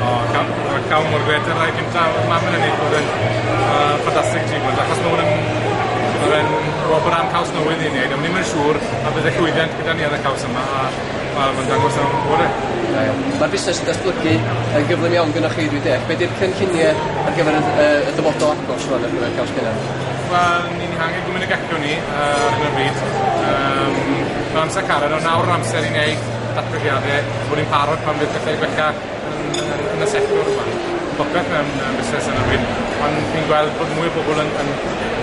O, cawn, cawn mor grêt â'r rhai cynta. Oedd mam yn ennill, oedd e'n uh, ffantastig ti bod, achos mae hwn yn... Oedd e'n wobr am caws newydd i wneud, a ni'n mynd siŵr a bydd y llwyddiant gyda ni ar y caws yma, a wel, mae'n dangos am bore. Mae'r busnes yn datblygu yn gyflym iawn gyda chi, dwi'n deall. Be di'r cynlluniau ar gyfer y, y, y dyfodol agos rwan ar gyfer caws cynnar? Wel, ni'n hangen gwmyn y gallwn ni uh, ar hyn o bryd. Um, mae amser carad, ond nawr amser i wneud datblygiade, bod ni'n parod pan fydd pethau gwella yn yn yn y sector yma. Popeth mewn yy busnes yn y byd, ond fi'n gweld bod mwy o bobl yn yn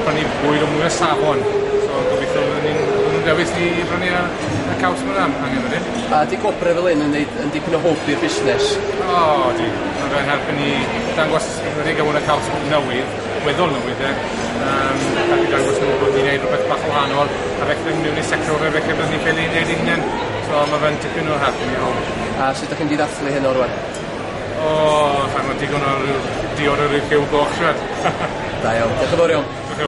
prynu bwyd o mwy o safon, so gobeithio byddwn ni'n byddwn ni'n dewis i i brynu y y caws ma' angen angen wedyn. A 'di gwobre fel 'yn yn neud yn dipyn o hwb i'r busnes? O ydi, ma' fe'n helpu ni dangos wedi ga'l mwy o caws newydd weddol nhw ife? Yym gallu dangos nhw bod ni'n neud rhywbeth bach yn wahanol a beth ni'n mynd i sector fe fe cefnogi be' ni'n neud ein hunen. So ma' fe'n tipyn o help i ni all. A sut 'dych chi'n diydathlu hyn o rŵan? O sai'n gwbo digon o ryw diod o ryw rhyw goch shwed. Da iawn. Dioch yn fowr iawn. Oce.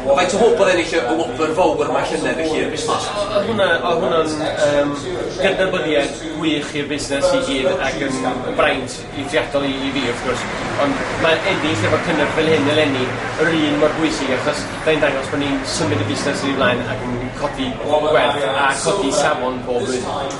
Faint o hwb oedd ennill y wobr fowr yma llynedd i chi i'r busnes? O o hwnna o hwnna'n yym gydnabyddiaeth gwych i'r busnes i gyd ac yn braint eithriadol i i fi wrth gwrs ond ma' ennill efo cynnyrch fel hyn eleni yr un mor bwysig achos fe'n dangos bo' ni'n symud y busnes yn ei flaen ac yn codi gwerth a chodi safon pob blwyddyn.